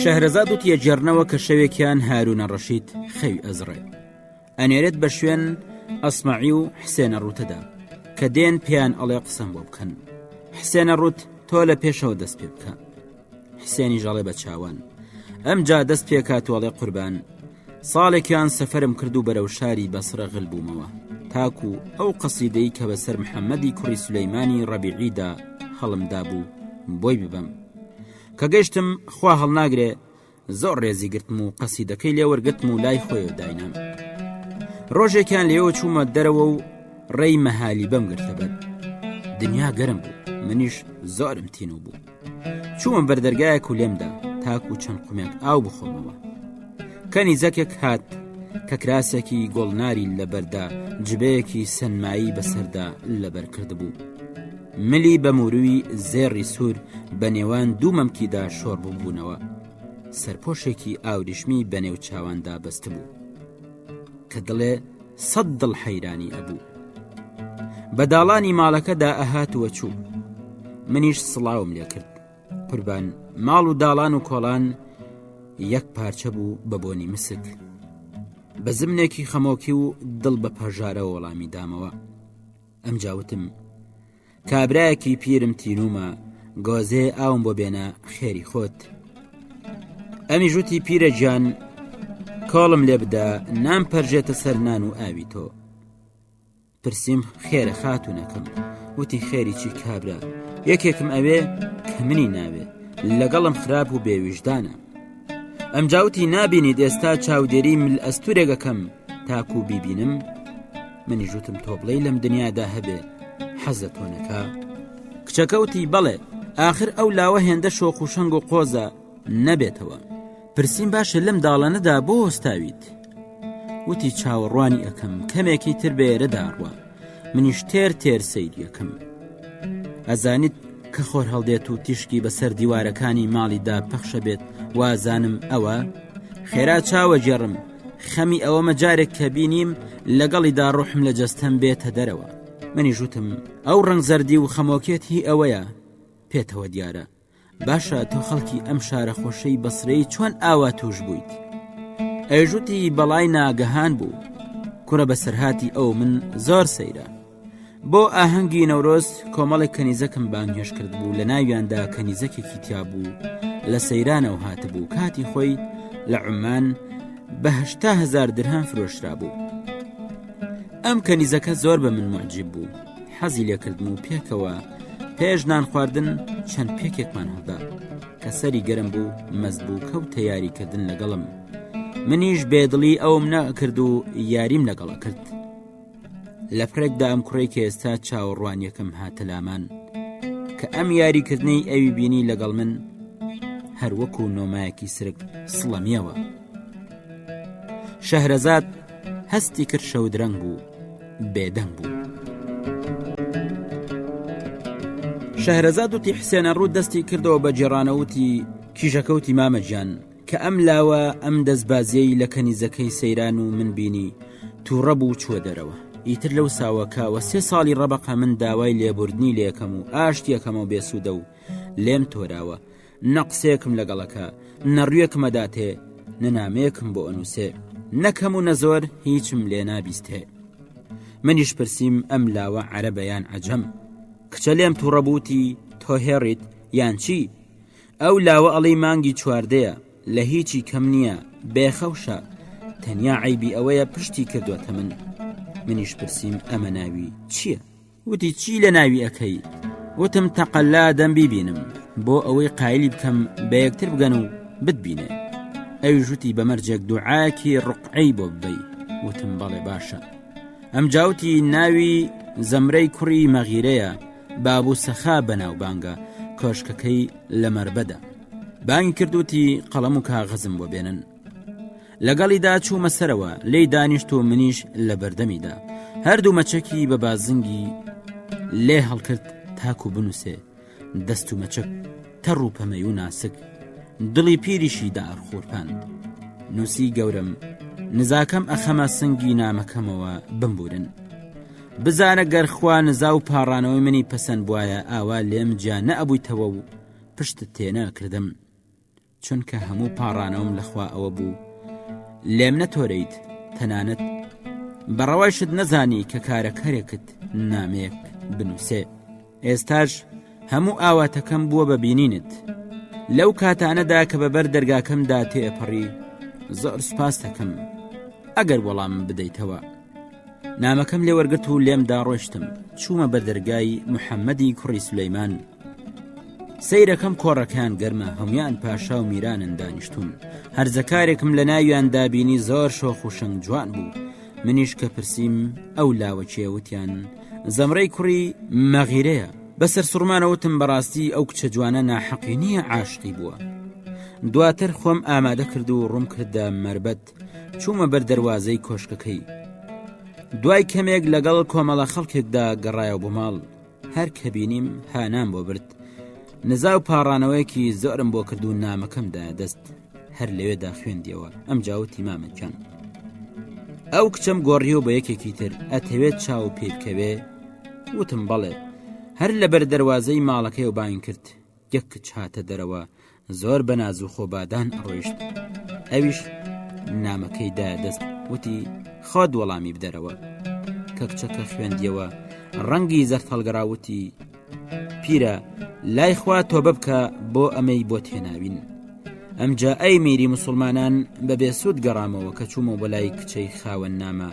شەهرەزاد وتی ئەگێڕنەوە کە شەوێکیان هارونە ڕەشید خەوی ئەزڕێ ئەنێرێت بە شوێن ئەسمعی و حسێنە ڕوتەدا کە دێن پێیان ئەڵێ قسەم بۆ بکەن حسێنە ڕوت تۆ لە پێشەوە دەست پێ بکە حسێنی ژەڵێ بە چاوان ئەمجا دەست پێکات وڵێ قوربان ساڵێکیان سەفەرم کرد و بەرەو شاری بەسرە غل بوومەوە تاکو ئەو قەسیدەی کە بەسەر محەممەدی کوڕی سولەیمانی ڕەبیعیدا هەڵمدابوو بۆی ببەم کە گەشتم خوا هەڵناگرێ زۆر ڕێزی گرتم و قەسیدەکەی لێ وەرگتم و لای خۆی داینام ڕۆژێکیان لێوە چوومە دەرەوە و ڕێی مەهالی بەم گرتە بەر دنیا گەرم بوو منیش زۆرم تینوو بوو چوومە بەردەرگایەک و لێمدا تاکو و چەند قومێک ئاو بخۆمەوە کەنی زەکێک هات کە کراسێکی گۆڵناری لەبەردا جبەیەکی سنمایی بەسەردا لەبەر کردبوو. ملی بە موروی زێڕی سوور بە نێوان دوو مەمکیدا شۆڕ ببوونەوە سەرپۆشێکی ئاوریشمی بە نێو چاواندا بەستبوو. کە دڵێ سەد دڵ حەیرانی ئەبوو بە داڵانی ماڵەکەدا ئەهات وە چوو منیش سڵاوم لێ کرد قوربان ماڵ و داڵان و کۆڵان یەک پارچە بوو بە بۆنی مسک بە زمنێکی خەمۆکی و دڵ بە پەژارە وەڵامی دامەوە ئەم جاوتم کابرایەکی پیرم تینومە گۆزێ ئاوم بۆ بێنە خێری خۆت ئەمی ژوتی پیرە گیان کۆڵم لێ بدە نام پەرژێتە سەر نان و ئاوی تۆ پرسییم خێرە خاتونەکەم وتی خێری چی کابرا یەکێکم ئەوێ کە منی ناوێ لەگەڵم خراپ و بێویژدانە ئەم جاوتی نابینی ئێستا چاودێری مل ئەستورێگەکەم تاکو و بیبینم منی ژوتم تۆ بڵێ لەم دنیادا هەبێ حەزە تۆنەکە کچەکەوتی بەڵێ آخر ئەو لاوە هێندە شۆخ و شەنگ و قۆزە نەبێتەوە پرسییم باشە لەم داڵانەدا بۆ هۆستاویت وتی چاوەڕوانی ئەەکەم کەمێکی تر بێرە داڕوە منیش تێر تێر سەیریەکەم ئەزانیت کە خۆر هەڵدێت و تیشکی بەسەر دیوارەکانی ماڵیدا پەخشە بێت وازانم ئەوە خێرا چاوە جێڕم خەمی ئەوەمە جارێک کە بینیم لەگەڵیدا ڕۆحم لە جەستەم بێتە دەرەوە منی ژوتم ئەو ڕنگ زەردی و خەمۆکێت هی ئەوەیە پێتەوە دیارە باشە تۆ خەڵکی ئەم شارە خۆشەی بەسرەی چۆن ئاوا توش بوویت ئەژوتی بەڵای ناگەهان بوو کوڕە بەسەرهاتی ئەو من زۆر سەیرە بۆ ئاهەنگی نەورۆز کۆمەڵێک کەنیزەکم بانگهێش کرد بوو لە ناویاندا کەنیزەکێکی تیا بوو لە سەیرانەوە هاتبوو کاتی خۆی لە عمان بەهشتا هزار درهان فرۆشرا بوو ئەم کەنیزەکە زۆر بە من معجیب بوو حەزی لێکردن و پێکەوە پێش نان خواردن چەند پێکێکمان هەڵدا کە سەری گەرم بوو مەز بوو کەوت تەیاریکردن لەگەڵم منیش بێدڵی ئەوم نەکرد و یاریم لەگەڵە کرد لە پرێکدا ئەم کوڕی کە ئێستا چاوەڕوانیەکەم هاتە لامان کە ئەم یاریکردنەی ئەوی بینی لەگەڵ من هەروەکو نۆمایەکی سرک سڵەمیەوە شەهرەزاد هەستی کرد شەودرەنگ بوو بێدەنگ بوو شەهرەزاد وتی حسێنە ڕوو دەستی کردەوە بە جێرانەوتی کیژەکەوتی مامەجان کە ئەم لاوە ئەم دەستبازیەی لە کەنیزەکەی سەیران و من بینی تووڕە بوو چووە دەرەوە ئیتر لەو ساوە کاوە سێ ساڵی ڕەبقە من داوای لێبوردنی لەکەم و ئاشتیەکەمەوە بێسوودە و لێم تۆراوە نە قسەیەکم لەگەڵەکە نەڕویەکمەداتێ نە نامەیەکم بۆ ئەنووسێ نەکەم و نەزۆر هیچم لێ نابیستێ منیش پرسییم ئەم لاوە عەرە بەیان عجەم کچە لێم تووڕەبووتی تۆ هێڕیت یان چی؟ ئەو لاوە ئەڵی مانگی چواردەیە لە هیچی کەم نییە بێخەوشە تەنیا عیبی ئەوەیە پشتی کردوەتە من منیش پرسییم ئەمە ناوی چییە؟ وتی چی لە ناوی ئەەکەی وتم تەقەلا دەم بیبینم بۆ ئەوەی قایلی بکەم بە یەکتر بگەن و بتبینێ ئەوی ژوتی بەمەرجێک دوعاکی ڕقعەی بۆ ببی وتم بەڵێ باشە ئەم جاوتی ناوی زەمرەی کوڕی مەغیرەیە باب و سەخا بەناوبانگە کۆشکەکەی لە مەربەدا بانگی کردوتی قەڵەم و کاغەزم بۆ بێنن لەگەڵیدا چوومە سەرەوە لی دانیشت و منیش لە بەردەمیدا هەردوو مەچەکی بە بازنگی لێ هەڵکرد تاکو بنووسێ دەست و مەچەک تەڕ و پەمەی و ناسک دڵی پیریشی دار خورپاند نووسی گەورم نزاکەم ئەخەمە سنگی نامەکەمەوە بمبورن بزانە گەر خوا نزا و پاڕانەوەی منی پەسەند بوایە ئاوا لێم جیا نەئەبوویتەوە و پشتت تێ نەئەکردم چونکە هەموو پاڕانەوەم لەخوا ئەوە بوو لێم نەتۆرەیت تەنانەت بەڕەوایشت نەزانی کە کارەکەرێکت نامێک بنووسێ ئێستاش هەموو ئاواتەکەم بووە بە بینینت لەو کاتانەدا کە بەبەر دەرگاکەمدا تێپەڕی زۆر سپاس دەکەم ئەگەر وەڵام بدەیتەوە نامەکەم لێ وەرگرت و لێم داڕۆشتم چوومە بە دەرگای محەممەدی کوڕی سلەیمان سیرەکەم کۆڕەکان گەرمە هەموان پاشا و میرانن دانیشتون هەرزەکارێکم لە ناویان دابینی زۆر شۆخ و شنگ جوان بوو منیش کە پرسییم ئەو لاوە چێوتیان زەمرەی کوڕی مەغیرەیە بەسەر سوڕمانەوتم بەڕاستی ئەو کچە جوانە ناحەقی نییە عاشقی بووە دواتر خۆم ئامادە کرد و ڕوم کردە مربەت چوومە بەر دەروازەی کۆشکەکەی دوای کەمێک لەگەڵ کۆمەڵە خەڵکێکدا گەڕایە بۆ ماڵ هەر کە بینیم هانام بۆ برد نزا و پاڕانەوەیەکی زۆرم بۆ کردو نامەکەمدا دەست هەر لەوێدا خوێندیەوە ئەم جاوتی مامەکان ئەو کچەم گۆڕی و بە یەکێکی تر ئەتەوێت چاو پێ بکەوێ وتم بەڵێ هەر لە بەر دەواازەی ماڵەکەی و باین کرد یەک کچ هاتە دەرەوە زۆر بە ناز و خۆبادان ئەڕۆیشت ئەویش نامەکەی دا دەست وتی خۆت وەڵامی بدەرەوە کە کچەکە خوێندیەوە ڕەنگی زەر هەڵگەڕاوتی پیرە لای خوا تۆ ببکە بۆ ئەمەی بۆ تێناوین ئەمجا ئەی میری مسلمانان بە بێسوود گەڕامەوە کە چوومە بە لای کچەی خاوەن نامە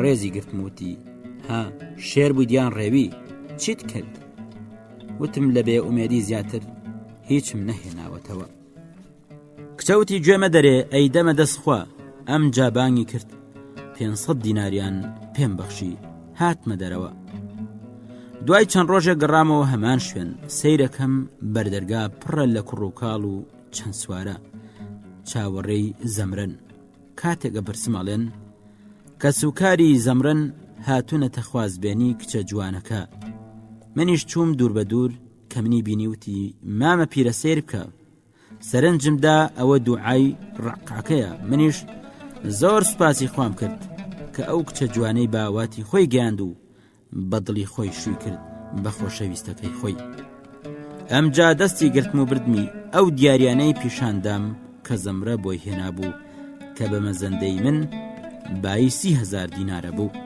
ڕێزی گرتموتی ها شێر بوویان ڕێوی چیت کرد وتم لە بێ ئومێدی زیاتر هیچم نەهێناوەتەوە. کچە وتی گوێ مەدەرێ ئەی دەمە دەست خوا، ئەمجا بانگی کرد پێنج سەد دیناریان پێم بەخشی، هاتمە دەرەوە. دوای چەند ڕۆژێک گەڕامەوە هەمان شوێن، سەیرەکەم بەردەرگا پڕە لە کوڕوکاڵ و چەند سوارە، چاوەڕێی زەمرەن. کاتێک بە پرسم ئەڵێن کەس و کاری زەمرن هاتوونەتە خوازبێنی کچە جوانەکە منیش چووم دوور بە دوور کە منی بینیوتی مامە پیرە سیر بکە سەرنجمدا ئەوە دوعای ڕقاکەیە منیش زۆر سوپاسی خوام کرد کە ئەو کچە جوانەی باواتی خۆی گەیاند و بە دڵی خۆی شووی کرد بە خۆشەویستەکەی خۆی ئەمجا دەستی گرتم و بردمی ئەو دیاریانەی پیشاندام کە زەمرە بۆی هێنابوو کە بە مەزەندەی من بایسی هزار دینارە بوو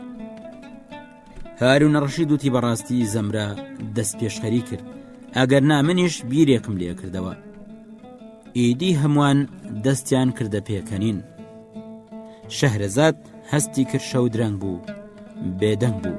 هارون ڕەشی دوتی بەڕاستی زەمرە دەست پێشخەری کرد ئەگەر نامنیش بیرێکم لێ کردەوە ئیدی هەمووان دەستیان کردە پێکەنین شەهرەزاد هەستی کرد شەو درەنگ بوو بێدەنگ بوو.